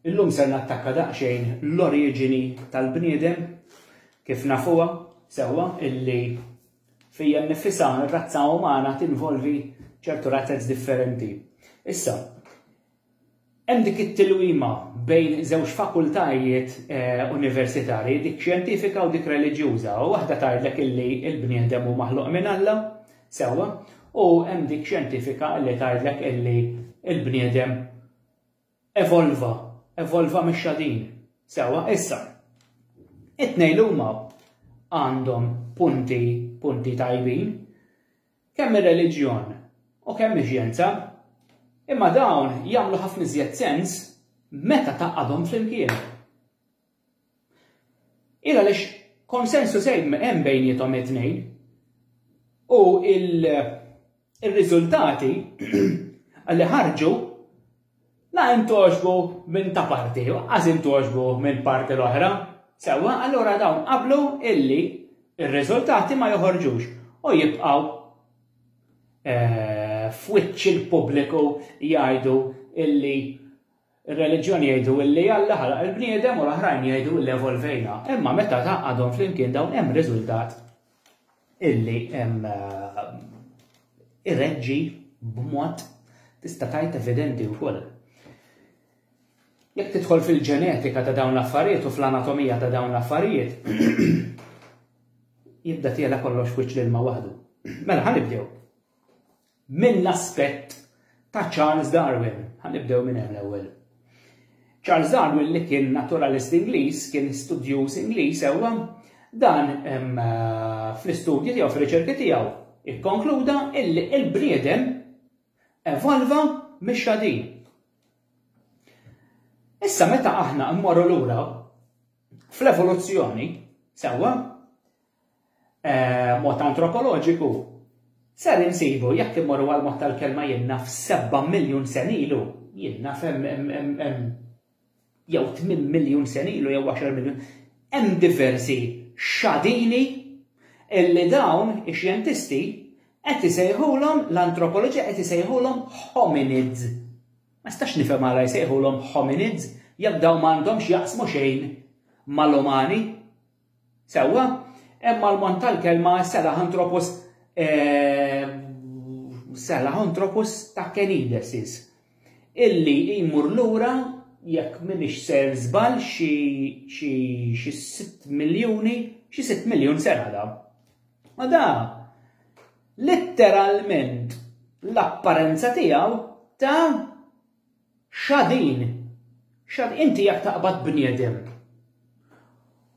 Illum ser nattakka daqsxejn l-oriġini tal-bniedem kif nafuha sewwa illi fija nnifisha r-razza umana tinvolvi ċertu razzez differenti. Issa, hemm dik it-tilwima bejn żewġ fakultajiet eh, universitarji, dik xjentifika u dik reliġjuża, u waħda tgħidlek illi l-bniedem hu maħluq minn Alla, sewwa, u hemm dik xjentifika li tgħidlek illi l-bniedem Evolva, evolva mexxa din. Sewwa, issa. It-tnejn li huma għandhom punti, punti tajbin, kemm ir-reliġjon u kemm ix-xjenza, imma dawn jagħmlu ħafna iżjed sens meta tgħaqqadhom flimkien. Hi għaliex konsensus hemm bejniethom it-tnejn u r-riżultati li ħarġu la hemm togħġbu minn ta' parti u anqas hemm togħġbu mill-parti l-oħra. Sewwa, allura dawn qablu illi r-riżultati ma joħorġux u jibqgħu f'wiċċ il-pubbliku jgħidu illi Ir-reliġjoni jgħidu illi Alla ħalaq il-bniedem u l-oħrajn jgħidu illi evolvejna. Imma meta tgħaqqadhom flimkien dawn hemm riżultat illi hemm eh, irreġġi b'mod tista' tgħid evidenti wkoll. Jekk tidħol fil-ġenetika ta' dawn l-affarijiet u fl-anatomija ta' dawn l-affarijiet, jibda tiela kollox wiċċ l-ilma waħdu. Mela ħanibdew. mill-aspett ta' Charles Darwin. Ħa nibdew minn hemm l-ewwel. Charles Darwin li kien naturalist Ingliż, kien studjuż Ingliż ewwa, dan fl-istudji tiegħu, fir-riċerki tiegħu, ikkonkluda illi l-bniedem evolva mix-xadin. Issa meta aħna mmorru lura fl-evoluzzjoni, sewwa, mod antropoloġiku, ser insibu, jekk immorru għall-mod tal-kelma jinnaf sebgħa miljun sena ilu, jinnaf hemm jew tmien miljun sena ilu jew għaxar miljun, hemm diversi xadini li dawn ix-xjentisti qed isejħulhom, l-antropoloġija qed isejħulhom hominids. Ma nistax nifhem għala jsejħulhom hominids jekk dawn ma għandhom x'jaqsmu xejn mal-umani. Sewwa, hemm mal-mont tal-kelma Selahanthropus Selahanthropus takkenidesis, illi jmur lura jekk m'iniex ser żball xi sitt miljuni, xi sitt miljun sena da. U da litteralment l-apparenza tiegħu ta' Xadin, xad, inti jekk taqbad bniedem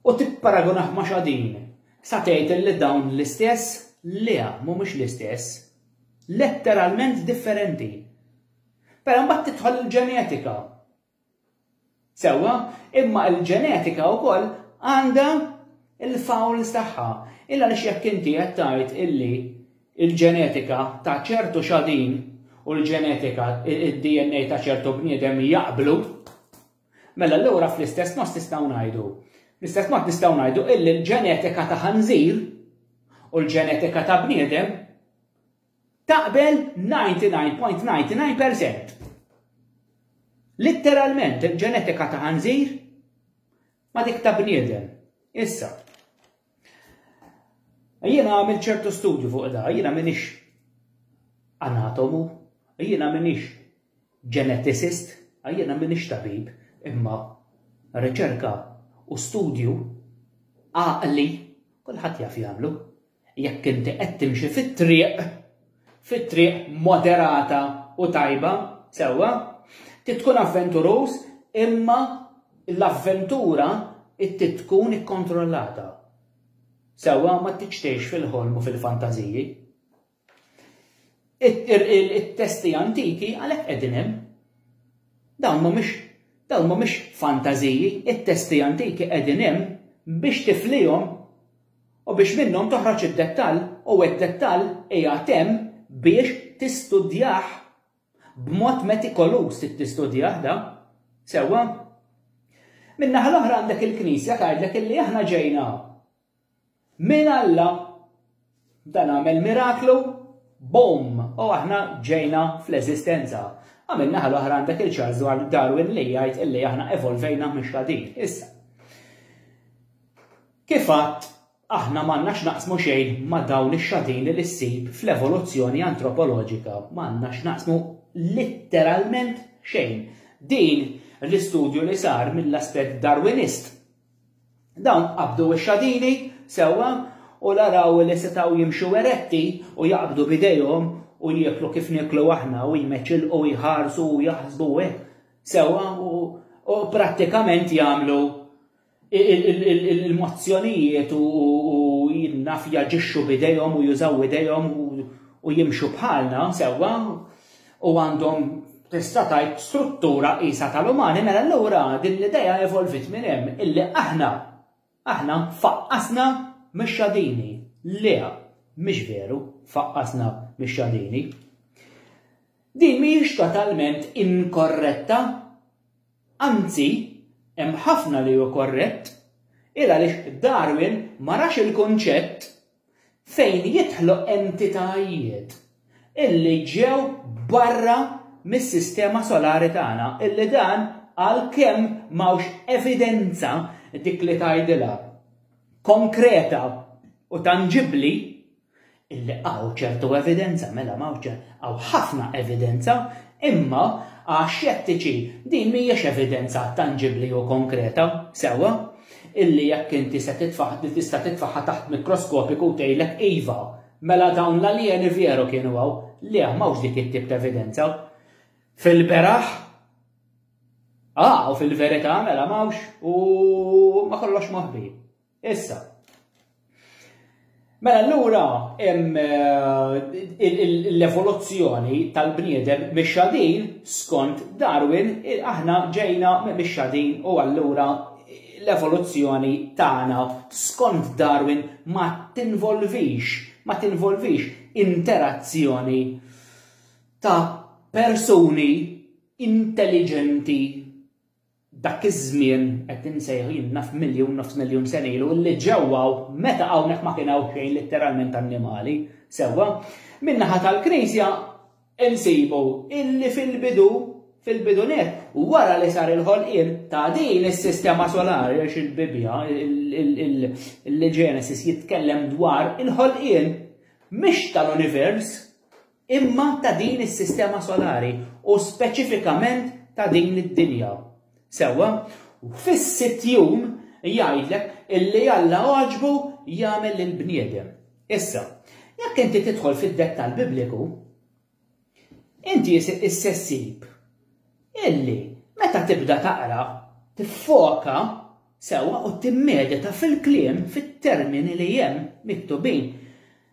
u tipparagunah ma' xadin, sa tgħid illi dawn l-istess? Le, mhumiex l-istess. Letteralment differenti. Però mbagħad tidħol il-ġenetika. Sewwa, imma l-ġenetika wkoll għandha l-fouls tagħha. Il għaliex jekk inti qed tgħid illi l-ġenetika ta' ċertu xadin u l-ġenetika, id-DNA ta' ċertu bniedem jaqblu, mela allura fl-istess mod nistgħu ngħidu. Fl-istess mod nistgħu ngħidu illi l-ġenetika ta' ħanżir u l-ġenetika ta' bniedem Taqbel 99.99 percent. Litteralment il-ġenetika ta' ħanżir ma dik ta' bniedem. Issa. Jiena għamil ċertu studju fuq da, jiena minix anatomu, jiena minix geneticist, jiena minix tabib, imma riċerka u studju għaqli kulħadd jaf jagħmlu. Jekk inti qed timxi fit-triq, fit-triq moderata u tajba, sewwa, trid tkun avventuruż imma l-avventura trid tkun ikkontrollata. Sewwa, ma tridx tgħix fil-ħolm u fil-fantażiji. It-testi antiki għalhekk qegħdin hemm. Dawn mhumiex dawn mhumiex fantażiji, it-testi antiki qegħdin hemm biex tiflihom u biex minnhom toħroġ id-dettall u d-dettall qiegħed hemm biex tistudjah b'mod metikoluż trid tistudjah da. Sewwa? Min-naħa l-oħra għandek il-Knisja tgħidlek illi aħna ġejna minn Alla dan għamel miraklu boom u aħna ġejna fl-eżistenza. Għamil naħa l-oħra għandek il-Charles Darwin li jgħid illi aħna evolvejna mhux ħadin. Issa. Kif għadt, aħna m'għandna x'naqsmu xejn ma' dawn ix-xatin li ssib fl-evoluzzjoni antropoloġika, m'għandna x'naqsmu litteralment xejn. Din l-istudju li sar mill-aspett Darwinist. Dawn qabdu x-xatini sewwa u l-araw li setgħu jimxu eretti u jaqbdu b'idejhom u jieklu kif nieklu aħna u jmeċilqu u jħarsu u jaħsbu u hekk sewwa u prattikament jagħmlu il-mozzjonijiet u jinnaf jaġixxu bidejhom u jużaw idejhom u jimxu bħalna sewwa u għandhom tista' tajt struttura qisha tal-umani mela allura din l-idea evolvit minn hemm illi aħna aħna faqqasna mix-xadini. Le, mhix veru, faqqasna mix-xadini. Din mhijiex totalment inkorretta Anzi, hemm ħafna li hu korrett, il għaliex Darwin ma rax il-kunċett fejn jidħlu entitajiet illi ġew barra mis-sistema solari tagħna illi dan għalkemm m'hawnx evidenza dik li tgħidilha konkreta u tanġibbli, Illi hawn ċertu evidenza, mela m'hawnx ċe, hawn ħafna evidenza, imma għax-xettiċi din m'hijiex evidenza tanġibbli u konkreta, sewwa, illi jekk inti se titfagħ, tista' titfagħha taħt mikroskopiku u tgħidlek iva, mela dawn l-aljeni veru kienu hawn. Le, m'hawnx dik it-tip ta' evidenza. Fil-beraħ, ah, u fil-verità mela m'hawnx u ma kollox moħbi. Issa, Mela allura hemm eh, l-evoluzzjoni tal-bniedem mix-xadin skont Darwin aħna ġejna mix-xadin u allura l-evoluzzjoni tagħna skont Darwin ma tinvolvix ma tinvolvix interazzjoni ta' persuni intelligenti Dak iż-żmien qed insejħu jien naf miljun, nofs miljun sena ilu, li ġewwa hawn, meta hawnhekk ma kien hawn xejn litteralment annimali, sewwa? Min-naħa tal-Knisja nsibu illi fil-bidu, fil-bidu nett, wara li sar il-ħolqien ta' din is-sistema solari għax il-Bibbja, il-Ġenesis jitkellem dwar il-ħolqien mhix tal-univers, imma ta' din is-sistema solari u speċifikament ta' din id-dinja. Sewwa? Fis-sitt jum, jgħidlek, illi Alla għaġbu jagħmel lill-bniedem. Issa, jekk inti tidħol fid-dettall Bibliku, inti issa ssib illi meta tibda taqra, tiffoka sewwa u timmedita fil-kliem, fit-termini li hemm miktubin,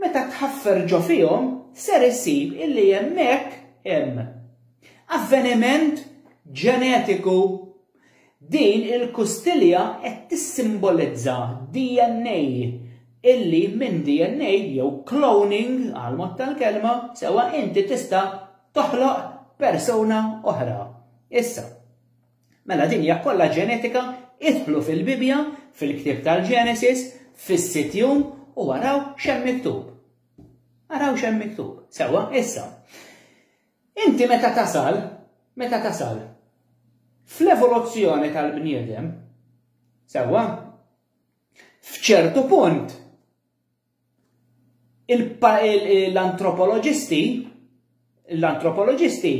Meta tħaffer ġo fihom, ser issib illi hemmhekk hemm avveniment ġenetiku. Din il-kustilja qed tissimbolizza DNA illi minn DNA jew cloning għall-mod tal-kelma sewwa inti tista' toħloq persuna oħra. Issa. Mela din hija kollha ġenetika, idħlu fil-Bibbja, fil-ktieb tal-Genesis, fis-sitt jum u araw x'hemm miktub. Araw x'hemm miktub. Sewwa, issa. Inti meta tasal, meta tasal, fl-evoluzzjoni tal-bniedem, sewwa, f'ċertu punt, l-antropoloġisti l-antropoloġisti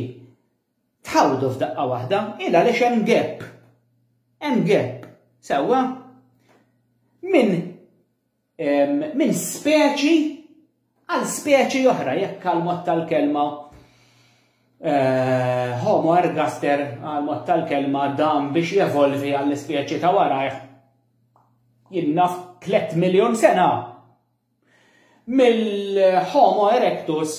tħawdu f'daqqa waħda il għaliex hemm gap. Hemm gap, sewwa minn min speċi għal speċi oħra jekk għal mod tal-kelma eh, Homo ergaster għal mod tal-kelma dam biex jevolvi għall-ispeċi ta' warajh jien naf 3 miljun sena mill-Homo erectus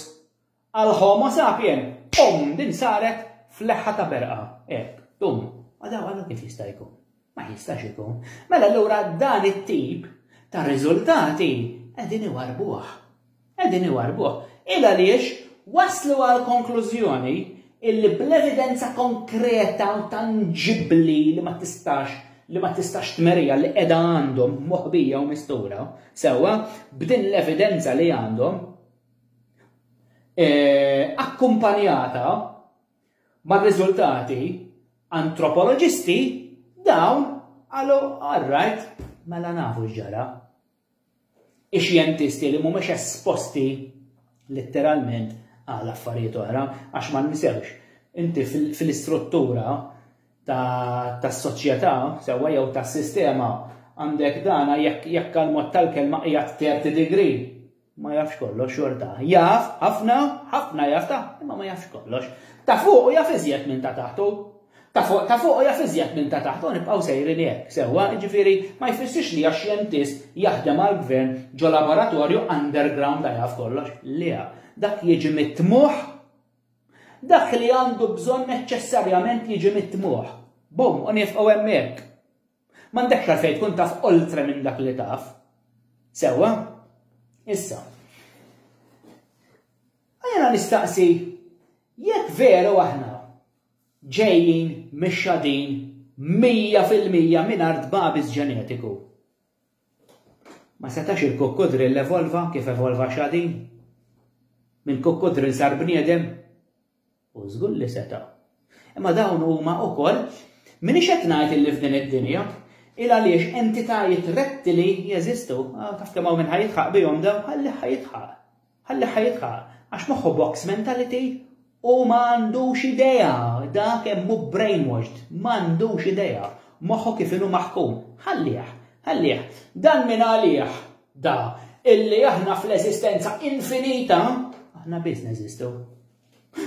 għal Homo sapien. Um, din saret fl-leħħa ta' berqa. Ek, dum, għadaw għallu kif jista' jkun. Ma jistax ikun. Mela allura dan it-tip ta' riżultati qegħdin iwarbuh. Qegħdin iwarrbuh. Hi għaliex waslu għall-konklużjoni illi bl-evidenza konkreta u tanġibbli li ma tistax li ma tistax tmerija li qiegħda għandhom moħbija u mistura, sewwa, b'din l-evidenza li għandhom, e, akkumpanjata ma' riżultati antropoloġisti dawn għalu għarrajt mela nafu ġara. ix-xjentisti li mhumiex esposti litteralment għal affarijiet oħra għax ma nisewx inti fil-istruttura tas-soċjetà sewwa jew tas-sistema għandek dana jekk jekk għal mod tal-kelma qiegħed terti degree ma jafx kollox xorta. Jaf, ħafna, ħafna jaf ta' imma ma jafx kollox. Ta' fuq u jaf iżjed minn ta' taħtu. Ta' fuq ta' fuq u jaf iżjed minn ta' taħt u nibqgħu sejrin hekk, sewwa? Jiġifieri ma jfissirx li għax xjentist jaħdem għall-gvern ġo laboratorju underground ta' jaf kollox, le, dak jiġi mit-tmugħ. Dak li għandu bżonn neċċessarjament jiġi mit-tmugħ. Bum, u nifqgħu hemmhekk. M'għandekx għalfejn tkun taf oltre minn dak li taf. Sewwa? Issa. Għajna nistaqsi, jekk veru aħna ġejjin mixxadin mija fil-mija mingħajr tbagħbis ġenetiku. Ma setax il-kukkudrill evolva kif evolva xadin? Minn kukkudrill sar bniedem? U żgur li seta'. Imma dawn huma wkoll minix qed ngħid li f'din id-dinja, il għaliex entitajiet rettili jeżistu, taf kemm hawn minn ħajitħaq bihom dawn ħalli ħajitħaq. Ħalliha jidħaq għax moħħu box mentality u ma għandux idea, dak kemm hu brainwashed, ma għandux idea, moħħu kif inhu maħkum. Ħallih, ħallih. Dan min għalih da illi aħna fl-eżistenza infinita aħna biss neżistu.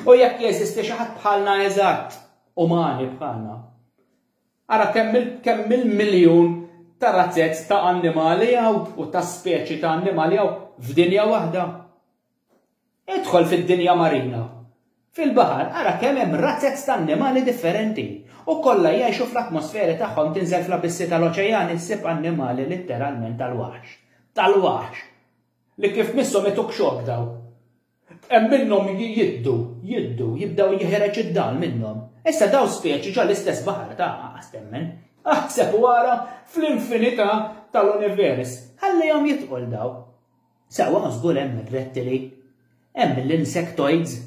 U jekk jeżisti xi ħadd bħalna eżatt, umani bħalna, Ara kemm il-miljun ta' razzezz ta' annimali hawn u ta' speċi ta' annimali hawn f'dinja waħda. Idħol fid-dinja marina, fil-baħar, ara kemm hemm razzezz ta' annimali differenti u kollha jgħixu fl-atmosferi tagħhom tinżel fl-abissi tal-oċejani ssib annimali litteralment tal-waħx. Tal-waħx! Li kif misshom ituk xokk dawn. Hemm minnhom jiddu, jiddu, jibdew jeħreġ id-dal minnhom. Issa dawn speċi ġo l-istess baħar ta' anqas temmen. Aħseb u ara fl-infinità tal-univers. Ħallihom jidħqu 'l dawn. Sewwa ma żgur hemm ir-rettili. Hemm l-insectoids.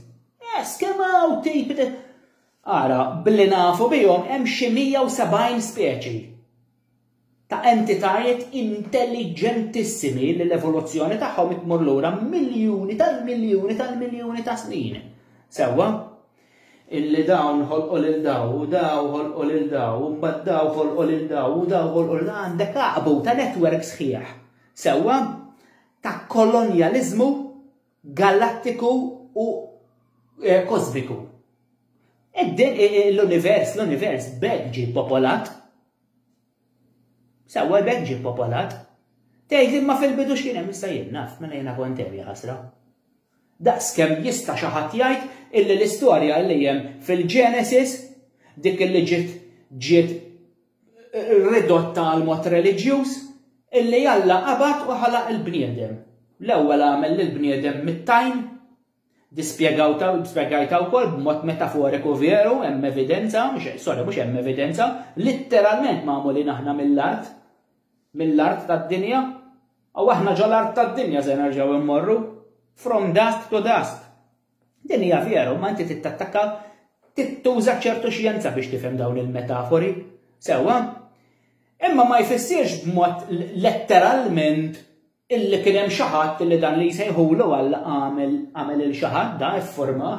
Yes, kemm hawn tip Ara, billi nafu bihom hemm xi 170 speċi. ta' entitajiet intelliġentissimi li l-evoluzzjoni tagħhom qed tmur lura miljuni tal-miljuni tal-miljuni ta' snin. Sewwa? Illi dawn ħolqu lil daw u daw ħolqu lil daw u mbagħad daw ħolqu lil daw u daw ħolqu lil għandek għaqbu ta' netwerk sħiħ. Sewwa? Ta' kolonjaliżmu galattiku u kosmiku. L-univers, l-univers b'hekk ġie popolat. Sewwa b'hekk ġie popolat. Tgħid imma fil-bidu x'kien hemm issa jien naf mela jiena kont hemm ħasra. Daqskemm jista' xi ħadd jgħid illi l-istorja li hemm fil-Genesis dik illi ġiet ġiet ridotta għal mod reliġjuż illi Alla qabad u ħalaq il-bniedem. L-ewwel għamel lill-bniedem mit-tajn, dispjegajta wkoll b'mod metaforiku veru, hemm evidenza, sorry, mhux hemm evidenza, litteralment magħmulin aħna mill-art, mill-art tad-dinja, u aħna ġol-art tad-dinja se nerġgħu immorru, from dust to dust. Din hija veru, ma inti tittattakka tittuża ċertu xjenza biex tifhem dawn il-metafori. Sewwa? Imma ma jfissirx b'mod letteralment illi kien hemm xi ħadd li dan li jsejħulu Alla għamel għamel il xi ħadd da iffurmah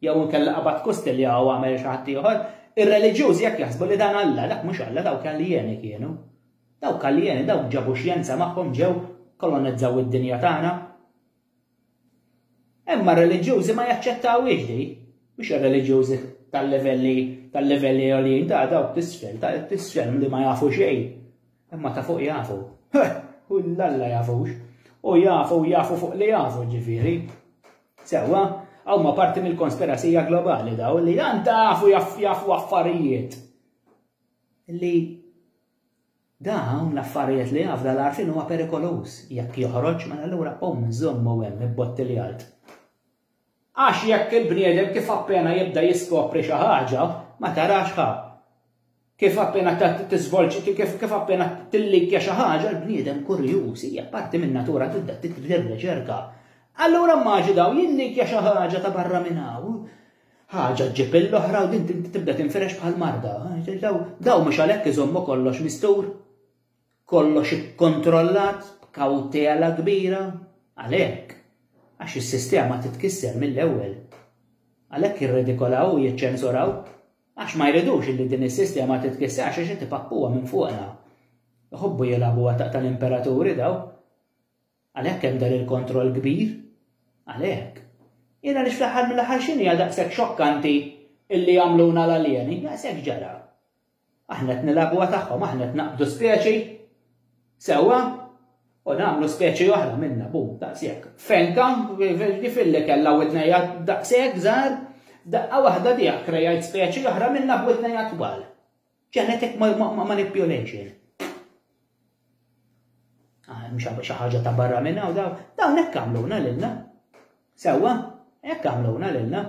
jew inkella qabad kustilja jew għamel xi ħadd ieħor. Ir-reliġjużi jekk jaħsbu li dan Alla, dak mhux Alla dawk aljeni kienu. Dawk aljeni dawk ġabu xjenza magħhom ġew kolonizzaw id-dinja tagħna. Imma r-reliġjużi ma jaċċettawhiex di, mhux ir-reliġjużi tal-livelli tal-livelli għoljin ta' dawk t'isfel, ta' t'isfel li ma jafu xejn. Imma ta' fuq jafu. U l-Alla jafux. U jafu jafu fuq li jafu ġifieri. Sewwa, huma parti mill-konspirasija globali daw li dan tafu jafu affarijiet li Dawn l-affarijiet li jafda l-għarfien huwa perikoluż. Jekk joħroġ, mela allura qum żommu hemm ibbotti li għalt. Għax jekk il-bniedem kif appena jibda jiskopri xi ħaġa, ma tarax ħa. Kif appena tiżvolġi, kif appena tillikja xi ħaġa, l-bniedem kurjuż hija parti min-natura tibda titbdir riċerka. Allura mmaġinaw jillikja xi ħaġa ta' barra minn hawn, ħaġa ġġib l-oħra u din tibda tinfirex bħal marda. Daw mhux għalhekk iżommu kollox mistur, kollox ikkontrollat b'kawtela kbira, għalhekk għax is-sistema titkisser mill-ewwel. Għalhekk jirredikolaw u jiċċensuraw għax ma jridux li din is-sistema titkisser għax xi tipappuha minn fuqna. Iħobbu jilagħbuha taqta' l-imperaturi daw. Għalhekk hemm dan il-kontroll kbir? Għalhekk. Jien għaliex fl-aħħar mill-aħħar x'inhi għal daqshekk xokkanti illi jagħmluna l-aljeni? Daqshekk ġara. Aħna qed nilagħbuha tagħhom, aħna qed naqbdu speċi sewwa u nagħmlu speċi oħra minna, bum, daqshekk. Fenka, ġifilli kellha witnejja daqshekk żgħar, daqqa waħda diha krejajt speċi oħra minna b'witnejja twal. Genetic manipulation. Ah, xi ħaġa ta' barra minn hawn dawn, dawn hekk għamluna lilna. Sewwa, hekk għamluna lilna.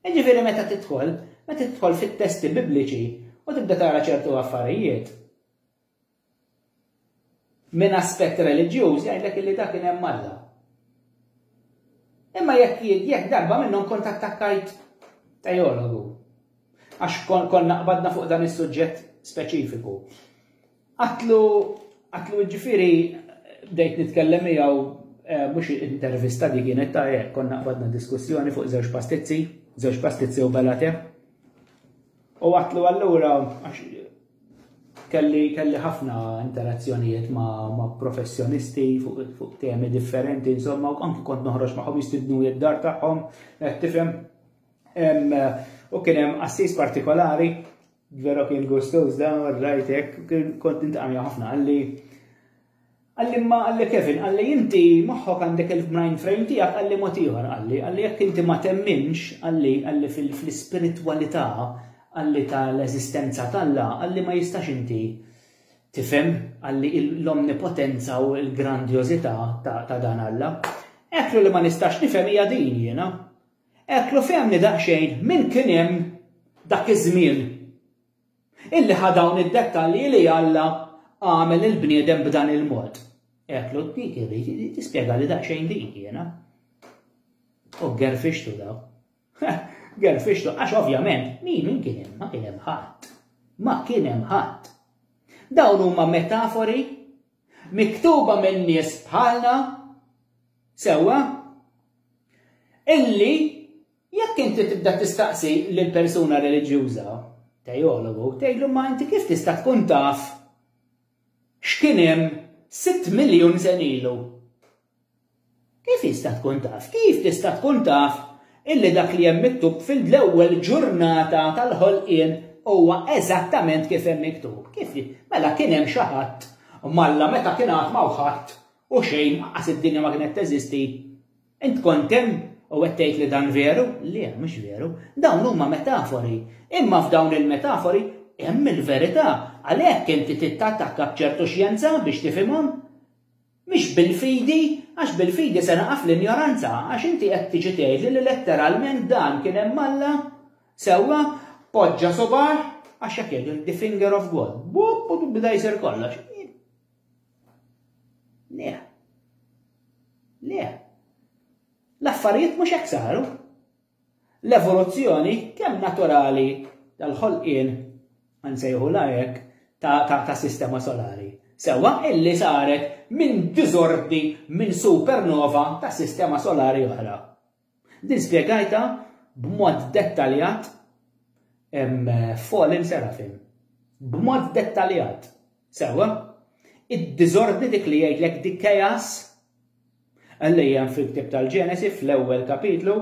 Jiġifieri meta tidħol, meta tidħol fit-testi bibliċi u tibda tara ċertu affarijiet, Minn aspett reliġjuż jgħidlek illi dak kien hemm Alla. Imma jekk jekk darba minnhom kont attakkajt teologu għax konna qbadna fuq dan is-suġġett speċifiku. Għatlu għatlu ġifiri bdejt nitkellem miegħu eh, mhux intervista di kienet ta' eh, konna qbadna diskussjoni fuq żewġ pastizzi, żewġ pastizzi u belate. U għatlu allura Kelli kelli ħafna interazzjonijiet ma', ma professjonisti fuq fu temi differenti, insomma, u anki kont noħroġ magħhom jistidnu id-dar tagħhom, eh, tifhem. U kien hemm assis partikolari, vera kien gustoż dan u rajtek, kont intqamja ħafna għalli Qalli imma qalli Kevin, qalli inti moħħok għandek il-mind frame tiegħek qalli mod ieħor qalli, qalli jekk inti ma temminx qalli qalli fl-ispiritwalità qalli ta' l-eżistenza t'Alla qalli ma jistax inti tifhem qalli l-omnipotenza u l-grandjożità ta' dan Alla. Eklu li ma nistax nifhem hija din jiena. Eklu fehmni daqsxejn min kien hemm dak iż-żmien. Illi ħa dawn id-dettalji li Alla għamel il-bniedem b'dan il-mod. Għedt l li tispjega li daqsxejn din jiena. U gerfixtu daw. Gerfixtu, għax ovvjament, min min kien hemm, ma kien hemm ħadd. Ma kien hemm ħadd. Dawn huma metafori miktuba minn nies bħalna sewwa illi Jekk inti tibda tistaqsi lill-persuna reliġjuża, tejologu, tgħidlu imma inti kif tista' tkun taf x'kien hemm sitt miljun sen ilu? Kif jista' tkun taf? Kif tista' tkun taf illi dak li hemm miktub fil-ewwel ġurnata tal-ħolqien huwa eżattament kif hemm miktub? Kif mela kien hemm xi ħadd malla meta kien għad ma ħadd u xejn aqas id-dinja ma kienet teżisti? Int kont hemm u qed tgħid li dan veru? Le, mhux veru. Dawn huma metafori. Imma f'dawn il-metafori hemm il-verità. Għalhekk inti trid tattakka b'ċertu xjenza biex tifhimhom. Mhix bil-fidi, għax bil-fidi se naqa' fl-injoranza, għax inti qed tiġi tgħidli li letteralment dan kien hemm Alla, sewwa, poġġa subgħah, għax hekk jgħidu the finger of God. Bop, bda jsir kollox. Le. Le. L-affarijiet mhux hekk saru. L-evoluzzjoni kemm naturali tal-ħolqien nsejħu lajek ta', ta, ta sistema solari. Sewa illi saret minn diżordi minn supernova ta' sistema solari oħra. Din spjegajtha b'mod dettaljat f'Fallen Seraphim. B'mod dettaljat. Sewwa? Id-diżordni dik li jgħidlek di chaos li hemm fil-ktieb tal-Ġenesi fl-ewwel kapitlu.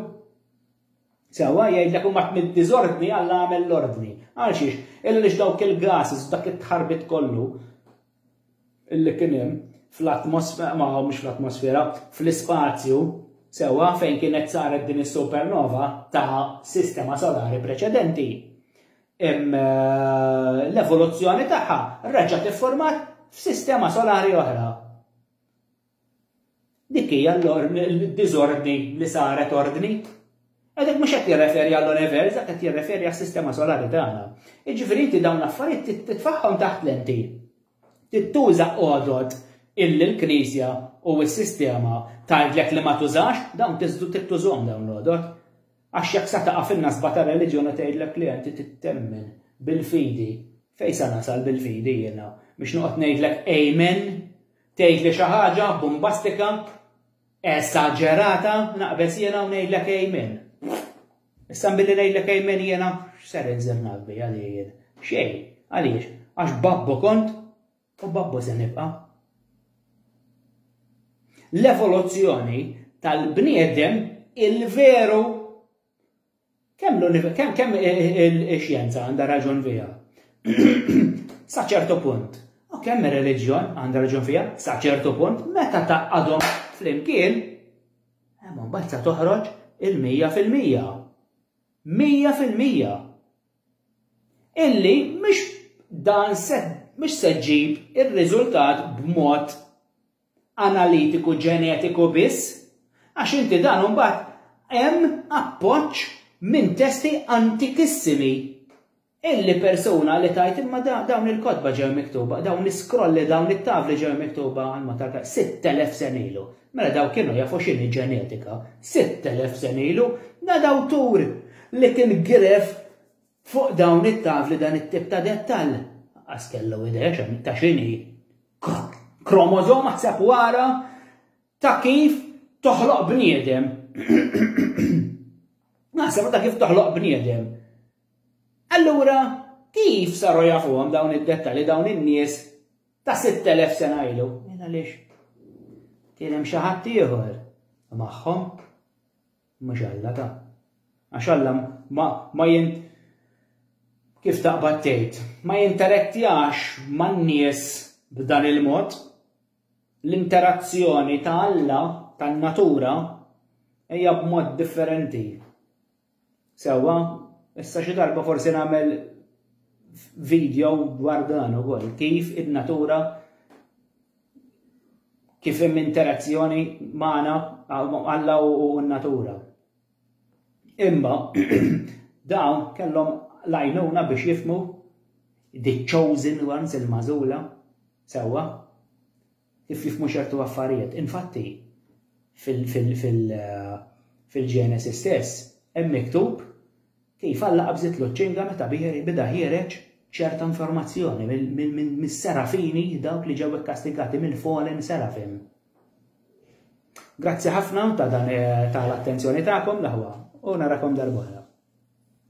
Sewwa jgħidlek huma mid-diżordni Alla għamel l-ordni. Għal xiex? Illa li dawk il-gases, dak it-tħarbit kollu, li kien hemm fl-atmosfera, ma mhux fl-atmosfera, fl-ispazju sewwa fejn kienet saret din is-supernova ta' sistema solari preċedenti. Eh, l-evoluzzjoni tagħha reġgħet iffurmat f'sistema solari oħra. Dik hija l-diżordni li saret ordni. Għadek mhux qed jirreferi għall-universa, qed jirreferi għas-sistema solari tagħna. Jiġifieri inti dawn l-affarijiet titfaħħom taħt lenti. Tittuża għodod illi l-Knisja u s-sistema tgħidlek li ma tużax, dawn tiżdu tittużhom dawn l-għodod. Għax jekk sa taqa' fin-nasba ta' reliġjoni tgħidlek li inti tittemmen bil-fidi. Fejn sa nasal bil-fidi jiena biex noqgħod ngħidlek amen Tgħid li xi ħaġa bumbastika, esaġerata, naqbeż jiena u ngħidlek amen. Issa billi ngħidlek amen jiena x'ser inżel naqbi għalijien. Xejn, għaliex, għax babbu kont u babbu se nibqa'. L-evoluzzjoni tal-bniedem il-veru Kemm l-kemm kemm ix-xjenza għandha raġun fiha? Sa ċertu punt. U kemm ir-reliġjon għandha raġun fiha? Sa ċertu punt, meta taqadhom flimkien, hemm mbagħad sa toħroġ il-mija fil-mija. Mija fil-mija. Illi mhux dan se mhux se ġib ir-riżultat b'mod analitiku ġenetiku biss, għax inti dan imbagħad hemm appoġġ minn testi antikissimi illi persuna li tgħid imma dawn il-kotba ġew miktuba, dawn l-iskrolli, dawn it-tavli ġew miktuba għal mod tal-każ 6000 sena ilu. Mela dawk kienu jafu x'inhi ġenetika 6000 sena ilu, da dawtur li kien giref fuq dawn it-tavli dan it-tip ta' dettall. Għas kellu idea ta' x'inhi kromozoma tseb wara ta' kif toħloq bniedem. Naħseb ta' kif toħloq bniedem. Allura, kif saru jafuhom dawn id-dettali dawn in-nies ta' 6000 sena ilu? Mela lix, kien hemm xi ħadd ieħor magħhom. Mhux Alla ta. Għax Alla ma, ma jint, kif taqbad tgħid, ma jinterettjax man-nies b'dan il-mod. L-interazzjoni ta' Alla, tan-natura, hija b'mod differenti. Sewwa, issa xi darba forsi nagħmel video dwar dan ukoll, kif in-natura kif hemm interazzjoni magħna Alla u n-natura. Imma dawn kellhom lajnuna biex jifmu the chosen ones il-mażula sewwa kif jifmu ċertu affarijiet. Infatti fil-Ġenesis stess hemm miktub Kif Alla qabżitlu ċ-ċinga meta beda ħiereġ ċerta informazzjoni mis-serafini dawk li ġew ikkastigati mill-fallen seraphim. Grazzi ħafna ta' dan tal-attenzjoni tagħkom l-aħwa u narakom darb'oħra.